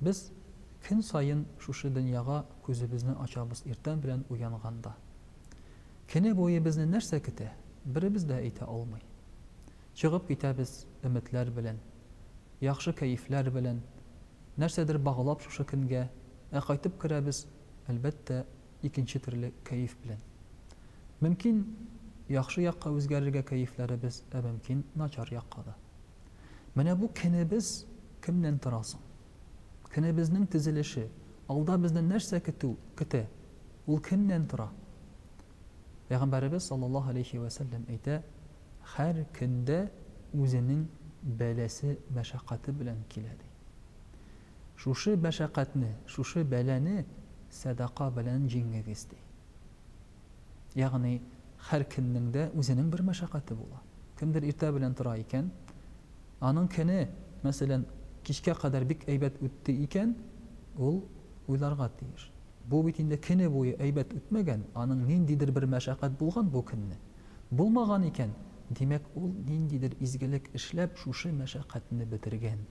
Без көн саен шушы дөньяга күзебезне ачабыз иртән белән уянганда. Көне буе безне нәрсә көтә, беребез дә әйтә алмый. Чыгып китәбез өметләр белән, яхшы кәефләр белән, нәрсәдер баглап шушы көнгә, ә кайтып керәбез, әлбәттә, икенче төрле кәеф белән. Мөмкин, яхшы якка үзгәрергә кәефләребез, ә мөмкин, начар якка да. Менә бу кенебез кемнән тора соң? Кенебезнең тезелеше, алда безне нәрсә көтү, көтә? Ул кемнән тора? Пәйгамбәребез саллаллаһу алейхи вә сәлләм әйтә, һәр кендә үзенең бәласе, мәшәкате белән килә ди. Шушы мәшәкатьне, шушы бәлане сәдака белән җиңегез ди. Ягъни, һәркемнең дә үзенең бер мәшәкате була. Кемдер иртә белән тора икән, аның көне, мәсәлән, кичкә кадәр бик әйбәт үтте икән, ул уйларга тиеш, бу бит инде көне буе әйбәт үтмәгән, аның ниндидер бер мәшәкать булган бу көнне. Булмаган икән, димәк, ул ниндидер изгелек эшләп шушы мәшәкатьне бетергән.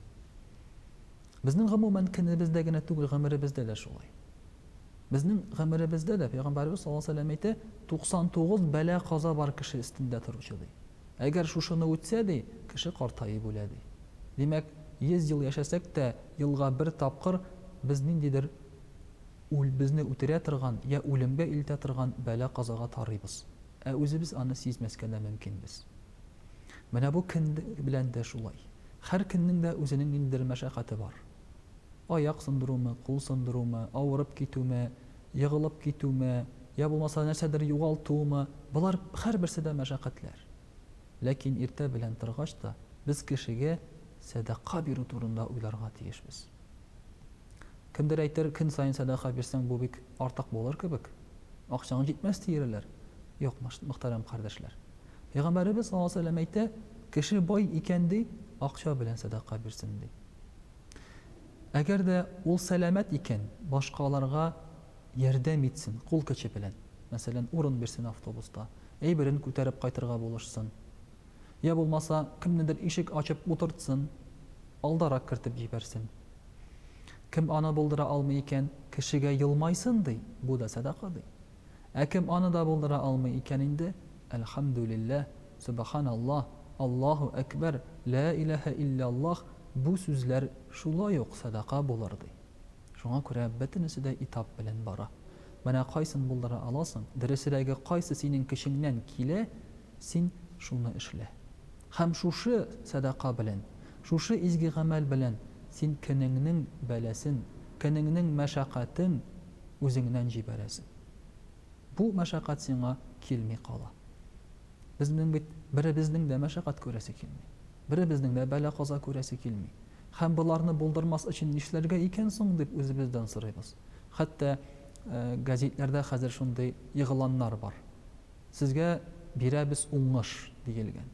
Безнең, гомумән, көнебездә генә түгел, гомеребездә дә шулай. Безнең гомеребездә дә, Пәйгамбәребез саллаллаһу галәйһи ва сәлләм әйтә, 99 бәла-каза бар кеше өстендә торучы, ди. Әгәр шушыны үтсә, ди, кеше картаеп үлә, ди. Димәк, 100 ел яшәсәк тә, елга бер тапкыр без ниндидер үл, безне үтерә торган, йә үлемгә илтә торган бәла-казага тарыйбыз. Ә үзебез аны сизмәскә дә мөмкинбез. Менә бу көн белән дә шулай. Һәр көннең дә үзенең ниндидер мәшәкате бар. Аяк сындырумы, кул сындырумы, авырып китүме, егылып китүме, йә булмаса нәрсәдер югалтуымы, болар һәрберсе дә мәшәкатьләр. Ләкин иртә белән торгач та, без кешегә сәдака бирү турында уйларга тиешбез. Кемдер әйтер, көн саен сәдака бирсәң, бу бик. Артык булыр кебек. Акчаң җитмәс диерләр. Юк, мөхтәрәм кардәшләр. Пәйгамбәребез саллаллаһу галәйһи ва сәлләм әйтә, Кеше бай икән, ди, акча белән сәдака бирсен, ди. Әгәр дә ул сәламәт икән, башкаларга ярдәм итсен, кул көче белән. Мәсәлән, урын бирсен автобуста, әйберен күтәреп кайтырга булышсын. Йә булмаса, кемнедер ишек ачып утыртсын, алдарак кертеп җибәрсен. Кем аны булдыра алмый икән, кешегә елмайсын, ди, бу да сәдака, ди. Ә кем аны да булдыра алмый икән инде, әлхәмдүлилләһ, сөбаханаллаһ, Аллаһу әкбәр, лә иләһә илляллаһ, бу сүзләр шулай ук сәдака булыр, ди. Шуңа күрә бөтенесе дә этап белән бара. Менә кайсын булдыра аласың, дөресрәге, кайсы синең көчеңнән килә, Син шуны эшлә. Һәм шушы сәдака белән, шушы изге гамәл белән син көнеңнең бәласен, көнеңнең мәшәкатен үзеңнән җибәрәсең. Бу мәшәкать сиңа килми кала. Безнең бит беребезнең дә мәшәкать күрәсе килми. Беребезнең дә бәла-каза күрәсе килми. Һәм боларны булдырмас өчен нишләргә икән соң, дип үзебездән сорыйбыз. Хәтта газитләрдә хәзер шундый игъланнар бар. Сезгә бирәбез уңыш, диелгән.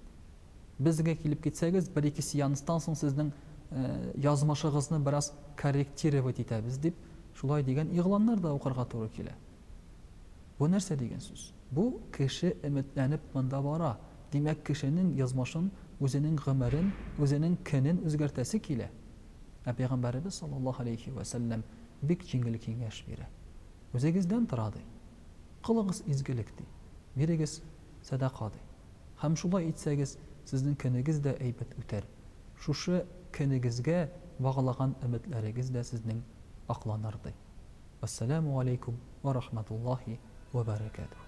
Безгә килеп китсәгез, бер-ике сеанстан соң сезнең язмышыгызны бераз корректировать итәбез, дип, шулай дигән игъланнар да укырга туры килә. Бу нәрсә дигән сүз? Бу, кеше өметләнеп монда бара, димәк, кешенең язмышын, үзенең гомерен, үзенең көнен үзгәртәсе килә. Ә Пәйгамбәребез саллаллаһу галәйһи вә сәлләм бик җиңел киңәш бирә. Үзегездән тора, ди. Кылыгыз изгелек, ди, бирегез сәдака, ди. Һәм шулай итсәгез, сезнең көнегез дә әйбәт үтәр, шушы көнегезгә баглаган өметләрегез дә сезнең акланыр, ди. Вәссәламү галәйкүм вә рахмәтуллаһи вә бәрәкәтүһү.